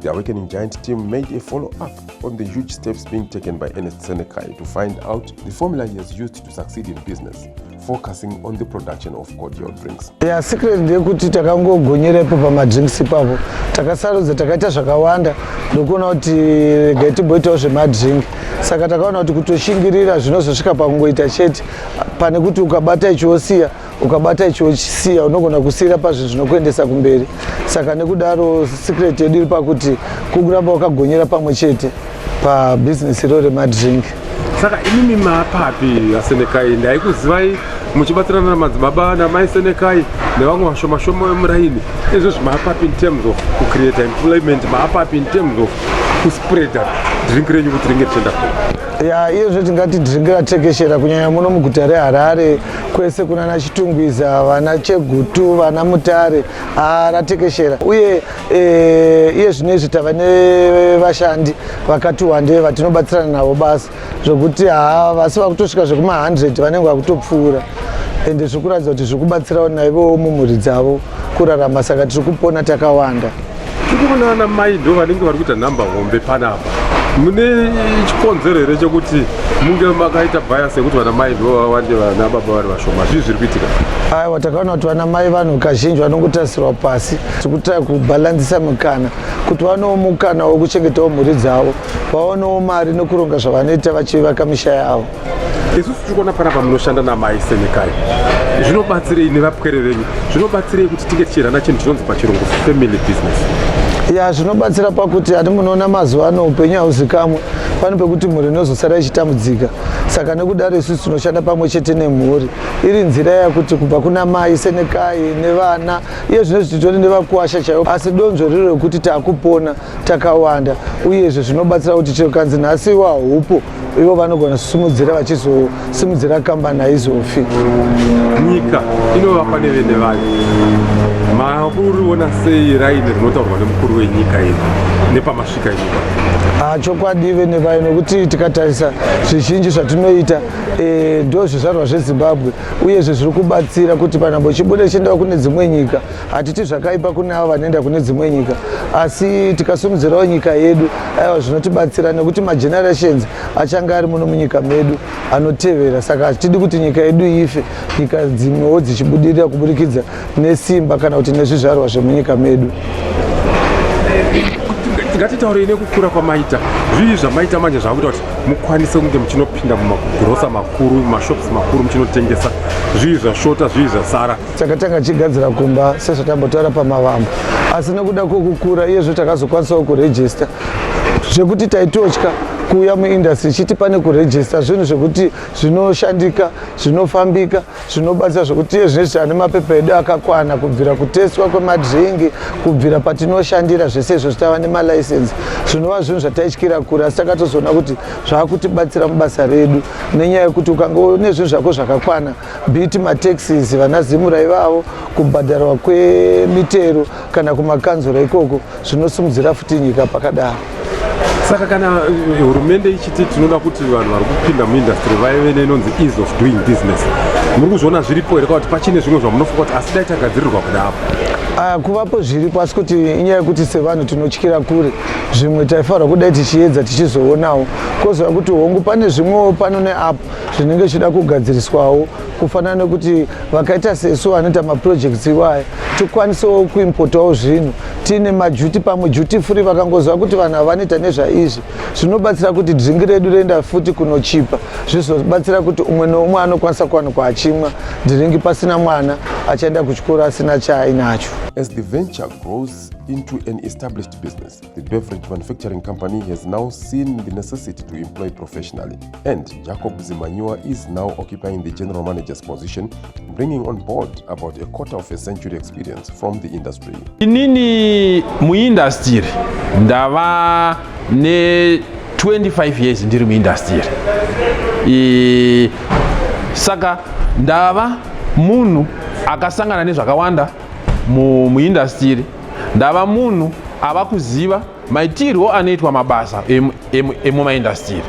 The Awakening Giant team made a follow-up on the huge steps being taken by Ernest Senekai to find out the formula he has used to succeed in business, focusing on the production of cordial drinks. Yeah, secret ndeyekuti takangogonyera ipo pamadrinks ipapo takasarudza takaita zvakawanda ndokuona kuti regai timboitawo zvemadrink saka takaona kuti kutoshingirira zvinozosvika pakungoita chete pane kuti ukabata ichiosiya ukabata icho uchisiya unogona kusiyira pazvinhu zvinokuendesa kumberi saka nekudaro secret yedu iri pakuti kukuramba wakagonyera pamwe chete pabhizinesi iro remadrink saka imimi mapapi asenekai ndaikuzivai muchibatsirana namadzibaba namai senekai nevamwe vashoma shoma vemuraini izvo zvimapapi in terms of kucreata employment mapapi in terms of kuspreada drink renyu kuti ringe tichienda kure ya iye zvetingati drink ratekeshera kunyanya muno muguta reharare kwese kuna nachitungwiza vana chegutu vana mutare aratekeshera uye e, iye zvino izvi tava nevashandi vakati wande vatinobatsirana navo basa zvokuti haa vasi vakutosvika zvekuma 100 vanenge vakutopfuura ende zviri kuratidza kuti zviri kubatsirawo naivowo mumhuri dzavo kurarama saka tiri kupona takawanda tiri kuona ana mai ndo vanenge vari kuita nhamba hombe panapa mune chikonzero here chekuti munge makaita bias yekuti vana mai ndo vawande vana baba vari vashoma zvii zviri kuitika aiwa takaona kuti vana mai vanhu kazhinji vanongotarisirwa pasi tikutaya kubhalanzisa mikana kuti vanewo mukana wekuchengetawo mhuri dzavo vaonewo mari nekuronga zvavanoita vachivaka misha yavo isusu tiri kuona panapa munoshanda namai senekai zvinobatsirei nevapwere venyu zvinobatsirei kuti tinge tichirana chinhu chinonzi pachirungu family business ya zvinobatsira pakuti hati munoona mazuva ano upenyu hauzikamwe pane pekuti mhuri inozosara ichitambudzika saka nekudaro isusu tinoshanda pamwe chete nemhuri iri nzira yakuti kubva kuna mai senekai nevana iye zvino zvititori nevakuwasha chaivo asi donzvo riro rekuti takupona takawanda uyezve zvinobatsira kuti chero kanzi nhasi iwa hupo ivo vanogona kusimudzira vachizosimudzira kambani haizofi nyika inovapa nevene vayo mauriona sei raini rinotaurwa nemukuru wenyika iri nepamasvika inyika ah, chokwadi vene vayo nokuti tikatarisa zvizhinji zvatinoita eh, ndo zvizvarwa zvezimbabwe uyezve zviri kubatsira kuti panhambo chibude chiendawo kune dzimwe nyika hatiti zvakaipa kune avo vanoenda kune dzimwe nyika asi tikasumudzirawo nyika yedu aiwa zvinotibatsira nekuti magenerations achange ari muno munyika medu anotevera saka hatidi kuti nyika yedu ife nyika dzimwewo dzichibudirira kuburikidza nesimba kana kuti nezvizvarwa zvemunyika medu ngatitaurei nekukura kwamaita zvii zvamaita manje zvakuita kuti mukwanise kunge muchinopinda mumagrosa makuru mashops makuru muchinotengesa zvii zvashota zvii zvasara takatanga tichigadzira kumba sezvatambotaura pamavambo asi nekuda kwekukura iyezvo takazokwanisawo kurejista zvekuti taitotya kuuya muindustry chiti pane kurejista zvinhu zvekuti zvinoshandika zvinofambika zvinobatsira zvekuti iye zvine zvichane mapepa edu akakwana kubvira kutestwa kwemadringi kubvira patinoshandira zvese izvo zvitava nemalicense zvinova zvinhu zvataityira kure asi takatozoona kuti zvakutibatsira mubasa redu nenyaya yekuti ukange une zvinhu zvako zvakakwana Biti mataxis vana Zimura ivavo kubhadharwa kwemitero kana kumakanzura ikoko zvinosimudzira futi nyika pakadaro. Saka kana eh, hurumende ichiti tinoda kuti vanhu vari kupinda muindastry vaive neinonzi ease of doing business, muri kuzviona zviripo here kana kuti pachine zvimwe zvamunofunga kuti asi dai tagadzirirwa kuda apo? Ah, kuvapo zviripo asi kuti inyaya yekuti sevanhu tinotyira kure zvimwe taifanirwa kudai tichiedza tichizoonawo kozova kuti hongu pane zvimwewo pano neapo zvinenge zvichida kugadziriswawo kufanana nekuti vakaita sesu vanoita maprojects iwaya tikwanisewo kuimpotawo zvinhu tiine majuti pamwe juti free vakangoziva kuti vanhu ava vanoita nezvaizvi zvinobatsira kuti dringi redu roenda futi kunochipa zvizobatsira kuti umwe neumwe anokwanisa kuwanikwa achimwa dhiringi pasina mwana achaenda kuchikoro asina chaainacho as the venture grows into an established business The beverage manufacturing company has now seen the necessity to employ professionally, and Jacob Zimanyiwa is now occupying the general manager's position, bringing on board about a quarter of a century experience from the industry. Inini muindustry ndava ne 25 years ndiri muindustry e, saka ndava munhu akasangana nezvakawanda muindustry mu ndava munhu ava kuziva maitirwo anoitwa mabasa emumaindastiri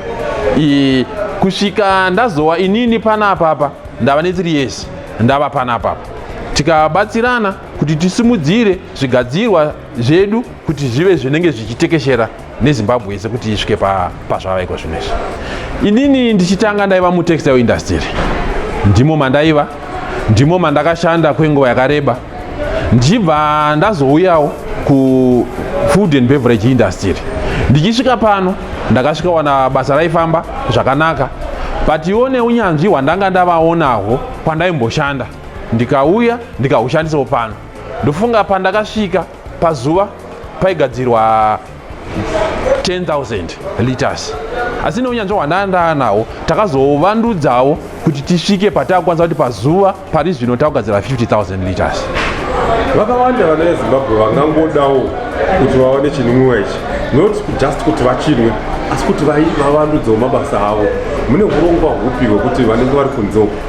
kusvika ndazowa inini pana apapa ndava netiri yese ndava pana apapa tikabatsirana kuti tisimudzire zvigadzirwa zvedu kuti zvive zvinenge zvichitekeshera nezimbabwe yese kuti isvike pazvava iko zvino izvi inini ndichitanga ndaiva mutextile industry ndimo mandaiva ndimo mandakashanda kwenguva yakareba ndichibva ndazouyawo kufood and beverage industry ndichisvika pano ndakasvika wana basa raifamba zvakanaka but iwo neunyanzvi hwandanga ndavaonahwo kwandaimboshanda ndikauya ndikahushandisawo pano ndofunga pandakasvika Pazuva paigadzirwa 10,000 liters asi neunyanzvi hwandandaa nawo takazovandudzawo kuti tisvike patakukwanisa kuti pazuva pari zvino takugadzira 50000 liters vakawanda vana vezimbabwe vangangodawo kuti vawane chinwiwa ichi not just kuti vachinwe asi kuti vavandudzewo mabasa avo mune urongwa hupi hwekuti vanenge vari kunze uku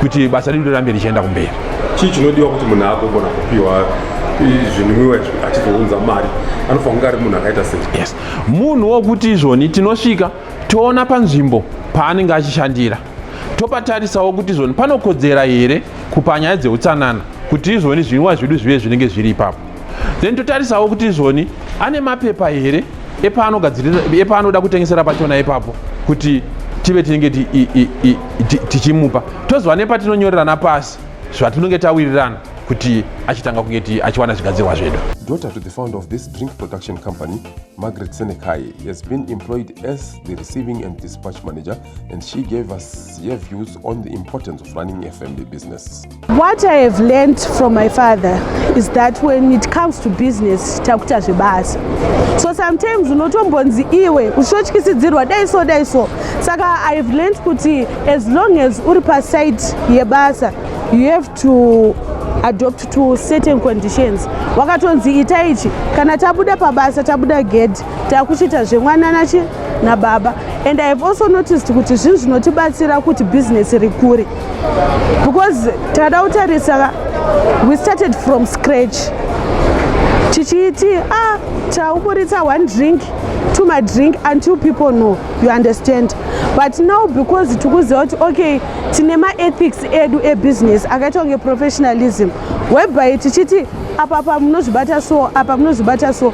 kuti basa redu rirambe richienda kumberi chii chinodiwa kuti munhu agogona kupiwa zvinwiwa izvi achizounza mari anofanira kunge ari munhu akaita sei yes munhu wokuti izvoni tinosvika toona panzvimbo paanenge achishandira topatarisawo kuti izvoni panokodzera here kupa nyaya dzeutsanana kuti izvoni zvinwiwa zvedu zvive zvinenge zviri ipapo then totarisawo kuti izvoni ane mapepa here epaanoda kutengesera pachona ipapo kuti tive tinenge tichimupa tozova nepatinonyorerana pasi zvatinenge tawirirana kuti achitanga kunge achiwana zvigadzirwa zvedu daughter to the founder of this drink production company margaret senekai has been employed as the receiving and dispatch manager and she gave us her views on the importance of running a family business What I have learned from my father is that when it comes to business takuita zvebasa so sometimes unotombonzi iwe uchityisidzirwa dai so dai so saka i have learned kuti as long as uri paside yebasa you have to adopt to certain conditions wakatonzi ita ichi kana tabuda pabasa tabuda gedhi takuchiita zvemwana nachi nababa and i have also noticed kuti zvinhu zvinotibatsira kuti bhizinesi rikure because takada kutarisa we started from scratch tichiiti ah tauburitsa one drink to my drink and two people know you understand but now because tikuziva kuti okay tine maethics edu ebusiness akaita kunge professionalism whereby tichiti apa apa munozvibata so apa munozvibata so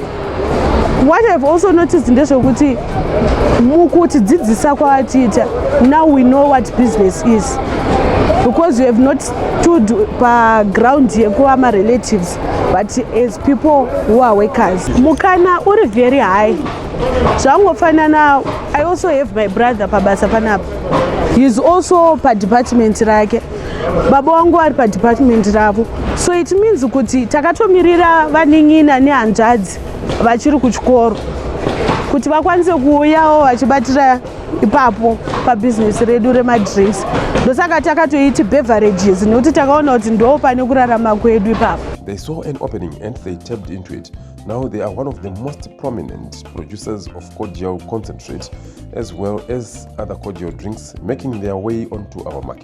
what ihave also noticed ndezvekuti mukutidzidzisa kwavatiita now we know what business is because you have not stood paground yekuva marelatives but as people who are workers mukana uri very high zvangofanana i also have my brother pabasa panapa heis also padepartment rake baba wangu vari padepartment ravo so it means kuti takatomirira vanin'ina nehanzvadzi vachiri kuchikoro kuti vakwanise kuuyawo vachibatira ipapo pabhizinesi redu remadress ndosaka takatoiti beverages nekuti takaona kuti ndo pane kurarama kwedu ipapo they saw an opening and they tapped into it now they are one of the most prominent producers of cordial concentrate as well as other cordial drinks making their way onto our market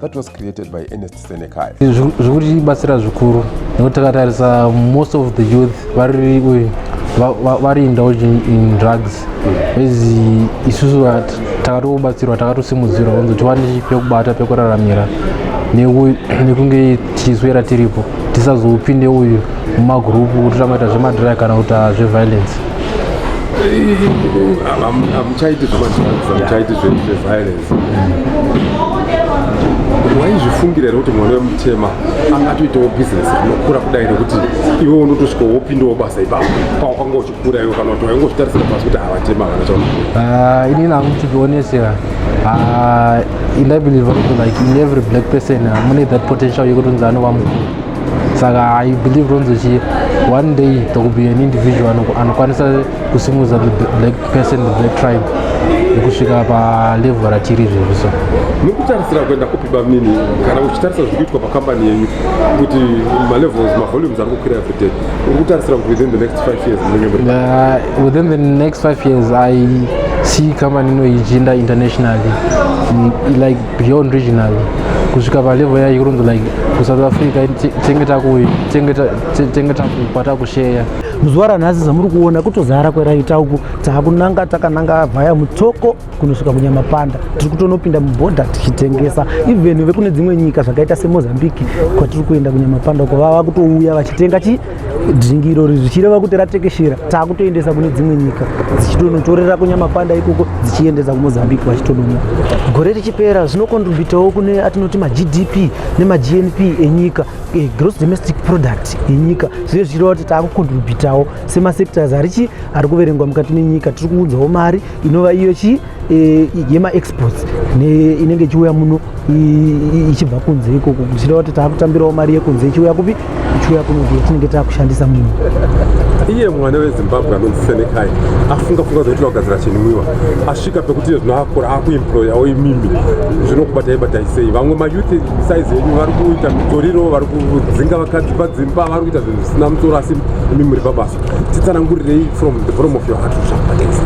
that was created by Ernest Senekai. Zvikutibatsira zvikuru nekuti takatarisa most of the youth vari vari indulge in drugs as isusu takatobatsirwa takatosimudzirwa kunzi tiwane pekubata pekuraramira nekunge tichiswera tiripo tisazopinde uyu mumagurupu totamaita zvemadry kana kuti zveviolence hamuchaiti zvemadrugs hamuchaiti zveviolence waizvifungira here kuti mwana wemutema angatoitawo bhizinesi rinokura kudai nekuti iwe unotosvika wopindawo basa ipapo pawakanga uchikura iwe kana kuti wainge uchitarisira pasi kuti havatema kana chaona ah, ini nangu to be honest here ah, and i believe like in every black person ah, mune that potential yekutonzi anova mukuru saka i believe ronzi chi one day there will be an individual anokwanisa kusimudza the black person the black tribe nekusvika palevel ratiri izvezvi so mukutarisira kuenda kupi bamnini kana uchitarisa zviri kuitwa pakambani yenyu kuti malevels mavolumes ari kukwira everyday uri kutarisira kuti within the next five years uh, within the next five years i see kambani ino ichinda internationally mm, like beyond regionally kusvika palevel yayo kuronzi like kusouth africa tenge takukwata kusheya muzuva ranhasi zamuri kuona kutozara kweraita uku takunanga takananga vhaya mutsoko kunosvika kunyamapanda tiri kutonopinda mubhodha tichitengesa even vekune dzimwe nyika zvakaita semozambique kwatiri kuenda kunyamapanda uko vava kutouya vachitenga chi dringi irori zvichireva kuti ratekeshera takutoendesa kune dzimwe nyika dzichitonotorera kunyamapanda ikoko dzichiendesa kumozambique vachitononya gore richipera zvinokontributawo kune atinoti magdp nemagnp enyika Eh, gross domestic product yenyika zviye zvichireva kuti taakucontributawo semasectors arichi ari kuverengwa mukati menyika tiri kuunzawo mari inova iyo chi eh, yemaexports inenge ichiuya muno ichibva kunze ikoko zvichireva kuti taakutambirawo mari yekunze ichiuya kupi ichiuya kunoku yatinenge taakushandisa muno iye mwana wezimbabwe anonzi senekai afunga funga zvokuti vakugadzira chinwiwa asvika pekuti iye zvino akura akuemployawo imimi zvinokubatai batai sei vamwe mayouth size yenyu vari kuita mitoriro vari kudzinga vakadzi padzimba vari kuita zvinhu zvisina mutsoro asi imi muri pabasa titsanangurirei from the bottom of your heart zvakadesa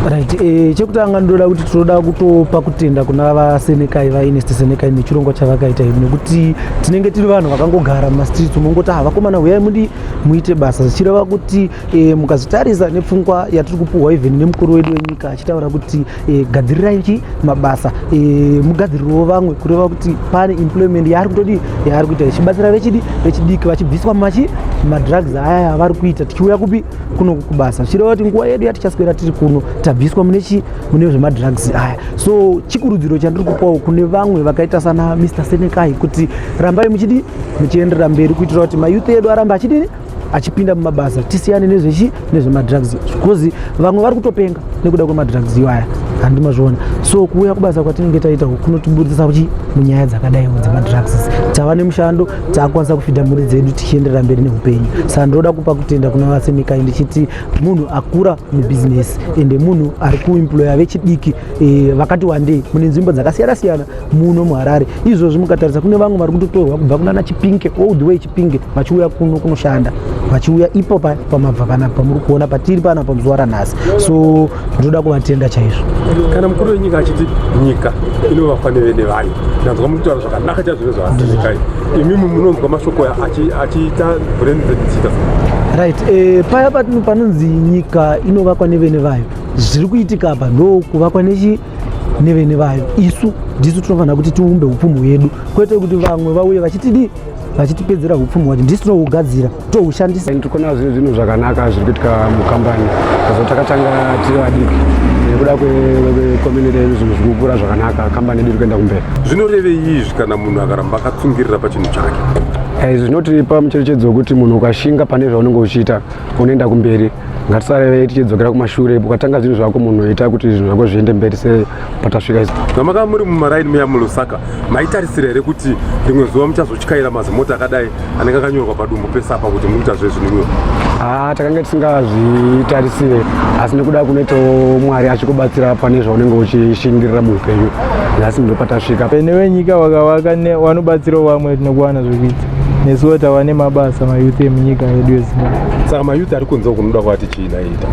right eh, chekutanga ndoda kuti tinoda kutopa kutenda kuna vasenekai vainest senekai nechirongwa chavakaita izvi nekuti tinenge tiri vanhu vakangogara mumastreets mongoti ha ah, vakomana huyai mudi muite basa zvichireva kuti eh, mukazotarisa nepfungwa yatiri kupuhwa even nemukuru wedu wenyika achitaura kuti e, gadzirirai chi mabasa e, mugadzirirewo vamwe kureva kuti pane employment yaari kutodii yaari kuita ichibatsira vechidi vechidiki vachibviswa machi madrugs aya avari kuita tichiuya kupi kuno kubasa zvichireva kuti nguva yedu yatichaswera tiri kuno tabviswa mune chi mune zvemadrugs aya so chikurudziro chandiri kupawo kune vamwe vakaita sana mr senekai kuti rambai muchidi muchienderera mberi kuitira kuti mayouth edu arambe achidini achipinda mumabasa tisiyane nezvechi nezvemadrugs because vamwe vari kutopenga nekuda kwemadrugs iwaya handi mazviona so kuuya kubasa kwatinenge taita kunotiburitsa kuchi munyaya dzakadai dzemadrugs tava nemushando takwanisa kufidha mhuri dzedu tichienderera mberi neupenyu saka ndinoda kupa kutenda kuna vasemikai ndichiti munhu akura mubhizinesi ende munhu ari kuemploya vechidiki e, vakati wandei mune nzvimbo dzakasiyana siyana muno muharare izvozvi mukatarisa kune vamwe vari kutotorwa kubva kunana chipinge all the way chipinge vachiuya kuno kunoshanda vachiuya ipo pamabva pana pamuri kuona patiri pana pamuzuva ranhasi so ndinoda kuvatenda chaizvo kana mukuru wenyika achiti nyika inovakwa nevene vayo ndanzwa mukutaura zvakanaka chazvino zvaaaikai imimi munonzwa mashoko achiita brenzedzita right eh, paya panonzi nyika inovakwa nevene vayo zviri kuitika apa ndo kuvakwa nechi nevene vayo isu ndisu tinofanira kuti tiumbe upfumi hwedu kwete kuti vamwe vauye vachitidii vachitipedzera upfumi hwacho ndisu tinohugadzira tohushandisa tiri kuona zvinhu zvinhu zvakanaka zviri kuitika mukambani azo takatanga tiri vadiki nekuda kwekominiti yedu zvinhu zviri kukura zvakanaka kambani yedu iri kuenda kumberi zvinorevei izvi kana munhu akaramba akatsungirira pachinhu chake izvi zvinoti pamucherechedzo wekuti munhu ukashinga pane zvaunenge uchiita unoenda kumberi ngatisarevei tichidzokera kumashure ukatanga zvinhu zvako munhu oita kuti zvinhu zvako zviende mberi sepatasvika isu vamaka muri mumaraini muya mulusaka maitarisira here kuti rimwe zuva muchazotyaira mazimota akadai anenge akanyorwa padumbu pese apa kuti mukuita zvezvinhuyo haa ah, takanga tisingazvitarisire asi nekuda kunoitawo mwari achikubatsira pane zvaunenge uchishingirira muupenyu nhasi ndopatasvika pene wenyika wakavaka wanobatsirawo vamwe tinokuwana zvekuita nesuwo tava nemabasa mayouth emunyika yedu yezimbabwe saka mayouth ari kunze kunoda kwati chii naita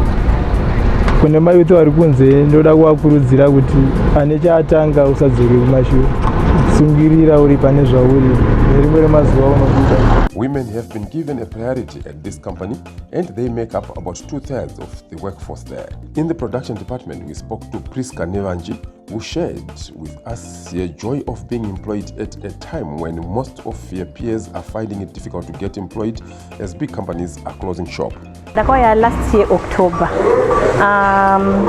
kune mayouth ari kunze ndoda kuvakurudzira kuti ane chaatanga usadzokeri kumashure sungirira uri pane zvauri nerimwe remazuva unokuita Women have been given a priority at this company and they make up about two-thirds of the workforce there. In the production department, we spoke to Prisca Nevanji, who shared with us the joy of being employed at a time when most of your peers are finding it difficult to get employed as big companies are closing shop. Ndakauya last year October. Um,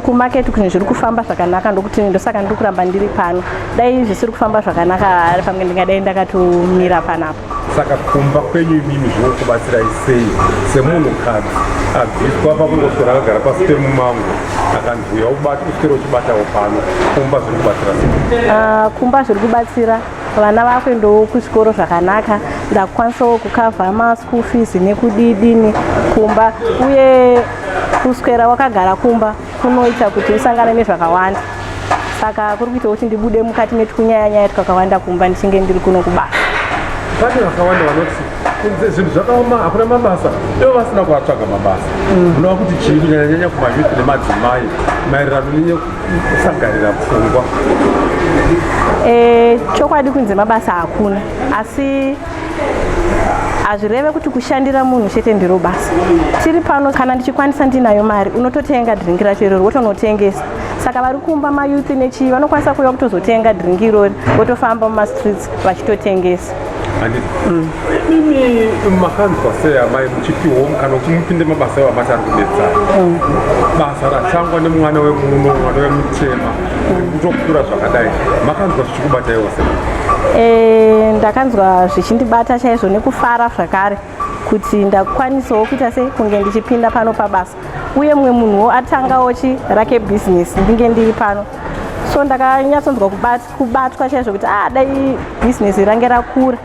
kumarket kunhu zviri kufamba zvakanaka ndokuti ndosaka ndiri kuramba ndiri pano dai zvisiri kufamba zvakanaka pamwe ndingadai ndakatomira panapa saka kumba kwenyu imimi zvinokubatsirai sei semunhu kadzi abviswa pakungoswera akagara pasi pemumango akanzi uya ubati uswere uchibatawo pano kumba zviri kubatsira sei ah, kumba zviri kubatsira vana vakuendawo kuzvikoro zvakanaka ndakukwanisawo kukavha maschool fees nekudidini kumba uye kuswera wakagara kumba kunoita kuti usangane nezvakawanda saka kuri kuita kuti ndibude mukati metukunyaya nyaya twakawanda kumba ndichinge ndiri kuno kubasa pane vakawanda vanoti kunze zvinhu zvakaoma hakuna mabasa ivo vasina kuvatsvaga mabasa mm. unova kuti chii kunyanyanyanya kumayuthi nemadzimai maererano nenekusagarira pfungwa eh, chokwadi kunze mabasa hakuna asi hazvireve kuti kushandira munhu chete ndiro basa tiri pano kana ndichikwanisa ndinayo mari unototenga dhiringi racho irori wotonotengesa saka vari kumba mayouth nechii vanokwanisa kuuya kutozotenga dhiringi irori votofamba mumastreets vachitotengesa mm. imi makanzwa sei amai muchipihwa mukana kuti mupinde mabasa ewo amati ari kubetsara mm. basa ratangwa nemwana wemuno mwana wemutema kutokura zvakadai makanzwa chikubataiwo se eh, ndakanzwa zvichindibata chaizvo nekufara zvakare kuti ndakwanisawo kuita sei kunge ndichipinda pano pabasa uye mumwe munhuwo atangawo chi rake bhizinesi ndinge ndiri pano so ndakanyatsonzwa kubatwa chaizvo kuti ah dai bhizinesi range rakura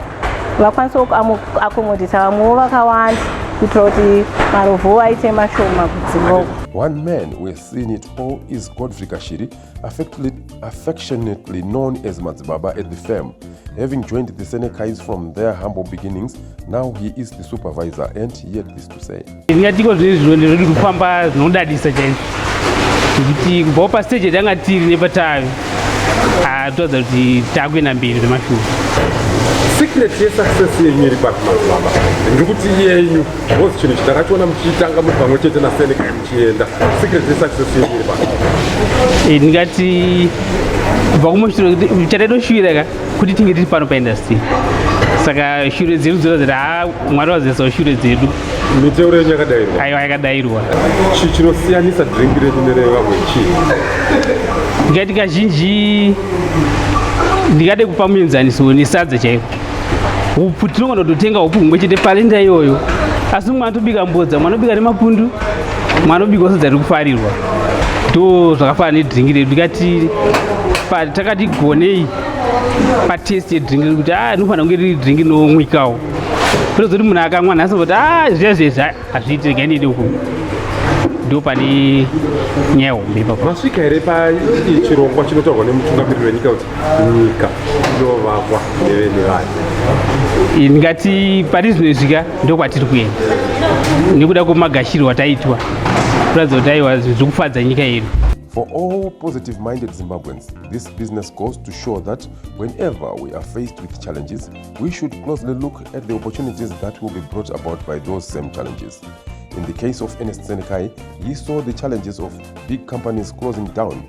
vakwanisawo kuakomodhita vamwewo vakawanda kuitira kuti marovhowo aite mashoma kudzimoko one man weseen it all is godfrey kashiri affectionately known as Madzibaba at the firm. Having joined the Senekais from their humble beginnings, now he is the supervisor and he had this to say. Ndingatiko zviri zviro ndiri kufamba zvinodadisa chaizvo kuti kubvawo pastage yatanga tiri nepatave atoratidza kuti takuenda mberi zvemashure secret yesuccess yenyu iri papi Madzibaba ndiri kuti yenyu Boss chinhu chitakachiona muchitanga muri pamwe chete na Seneca muchienda secret ye success yenyu iri pano. Eh, ndingati kubva kumushure chataitoshuvira ka kuti tinge tiri pano paindustry saka shure dzedu dzora dzati ha mwari vazisawo shure dzedu miteuro yenyu yakadairwa aiwa yakadairwa chi chinosiyanisa drink renyu nerevamwe chi ndingati kazhinji ndingade kupa muenzaniso nesadza chaiko upfu tinogona kutotenga upfu humwe chete parenda iyoyo asi mumwe anotobika mbodza mumwe anobika nemapundu mumwe anobika sadza riri kufarirwa ndo zvakafana nedringi redu ndikati takati gonei patest yedringi rekuti a ah, rinofanira kunge riri dringi rinomwikawo ndozoti munhu akamwa nhasi voti a ah, zviya zvezvi hazviiti regai ndiende uku ndo pane nyaya hombe ipapo masvika here pachirongwa chinotaurwa nemutungamiriri wenyika kuti nyika inovakwa nevene vayo ndingati pari zvinoizvika ndokwatiri kuenda nekuda kwemagashirwo ataitwa kuratidza kuti aiwa zviri kufadza nyika yedu For all positive minded Zimbabweans, this business goes to show that whenever we are faced with challenges, we should closely look at the opportunities that will be brought about by those same challenges. In the case of Ernest Senekai, he saw the challenges of big companies closing down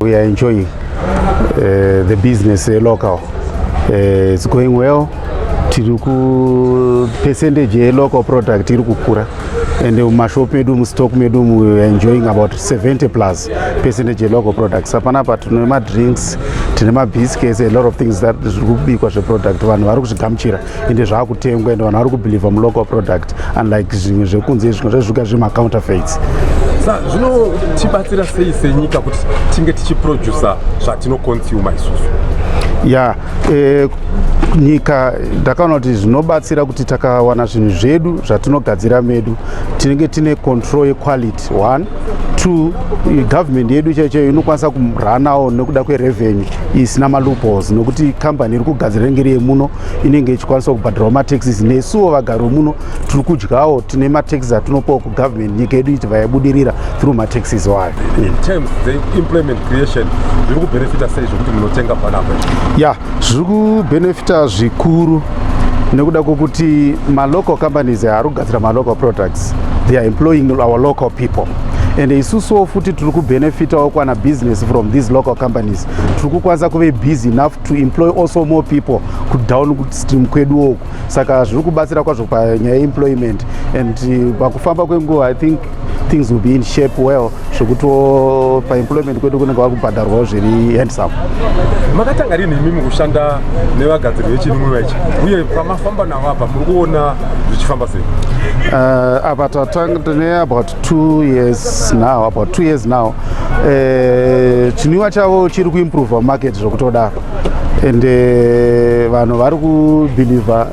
We are enjoying uh, the business uh, local. Uh, it's going well. Tiri ku percentage ye local product iri kukura and mumashop medu mustock medu we are enjoying about 70 plus percentage ye local products. Hapana apa tine madrinks, tine mabiscuits, a lot of things that zviri kubikwa zveproduct vanhu vari kuzvigamuchira. ende zvaakutengwa ende vanhu vari kubelieve mulocal product unlike zvimwe zvekunze izvi zvazvika zvemacounterfeits sa zvinotibatsira sei senyika kuti tinge tichiproducer zvatinoconsumer isusu ya yeah, eh, nyika ndakaona kuti zvinobatsira kuti takawana zvinhu zvedu zvatinogadzira medu tinenge tine control yequality one two government yedu chaiyo chaiyo inokwanisa kuranawo nekuda kwerevenue isina maloopholes nokuti kambani iri kugadzira inenge iri yemuno inenge ichikwanisa kubhadharawo mataxes nesuwo vagari vemuno tiri kudyawo tine mataxes atinopawo kugovernment nyika yedu ichibva yabudirira through mataxes wayo ya zviri kubhenefita zvikuru nekuda kwokuti malocal companies haari kugadzira malocal products they are employing our local people and isusuwo futi tiri kubenefitawo kwana business from these local companies tiri kukwanisa kuve busy enough to employ also more people kudown stream kweduwo uku saka zviri kubatsira kwazvo panyaya yeemployment and uh, pakufamba kwenguva i think things will be in shape well zvekutiwo paemployment kwedu kunenge vakubhadharwawo zviri handsome makatanga rini imi mukushanda nevagadziri vechinwiwa ichi uye pamafamba navo apa muri kuona zvichifamba sei uh, apa tatanga tine about two years now about two years now uh, chinwiwa chavo chiri kuimprova market zvekutodaro and uh, vanhu vari kubhilivha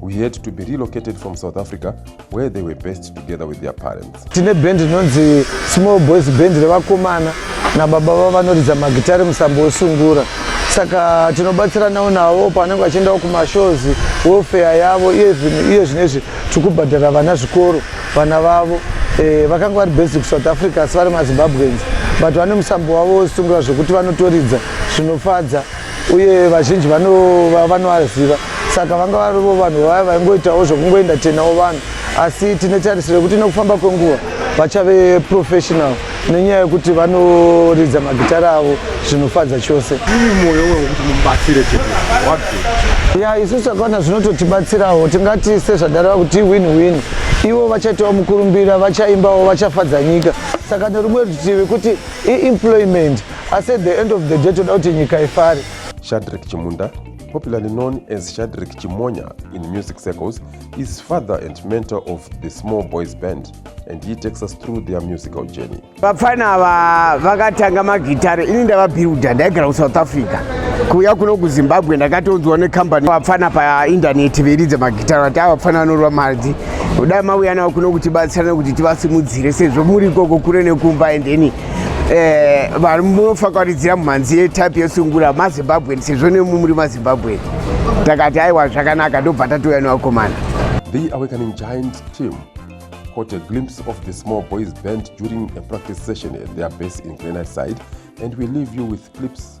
we had to be relocated from South Africa where they were based together with their parents. Tine band inonzi Small Boys Band revakomana nababa vavo vanoridza magitare musambo wesungura saka tinobatsiranawo navo pavanenge vachiendawo kumashows welfare yavo iye zvino izvi tiri kubhadhara vana zvikoro vana vavo eh, vakanga vari basic south africa asi vari mazimbabweans but vane musambo wavo wesungura zvekuti vanotoridza zvinofadza uye vazhinji vanova vanoaziva saka vanga varivo vanhu vaya vaingoitawo zvekungoenda tenawo vanhu asi tine tarisiro yekuti nekufamba kwenguva vachave professional nenyaya yekuti vanoridza magitara avo zvinofadza chose ya isu takaona zvinototibatsirawo tingati sezvadareva kuti win win ivo vachaitawo mukurumbira vachaimbawo vachafadza nyika saka nerumwe rutivi kuti iemployment asi at the end of the day toda kuti nyika ifare shadrik chimunda popularly known as shadrik chimonya in music circles is father and mentor of the small boys band and he takes us through their musical journey vapfana ava vakatanga magitare ini ndavabuilda ndaigara kusouth africa kuuya kuno kuzimbabwe ndakatonzwa nekambani vapfana paindaneti veiridza magitare vati ava vapfana vanorwa mari kudai mauya navo kuno kutibatsira nekuti tivasimudzire sezvo muri ikoko kure nekumba endeni eh, vari munofakwaridzira mumhanzi yetype yesungura mazimbabwen sezvo nemu muri mazimbabwen takati aiwa zvakanaka ndobva tatouya nevakomana the awakening giant team caught a glimpse of the small boys band during a practice session at their base in granite side and we leave you with clips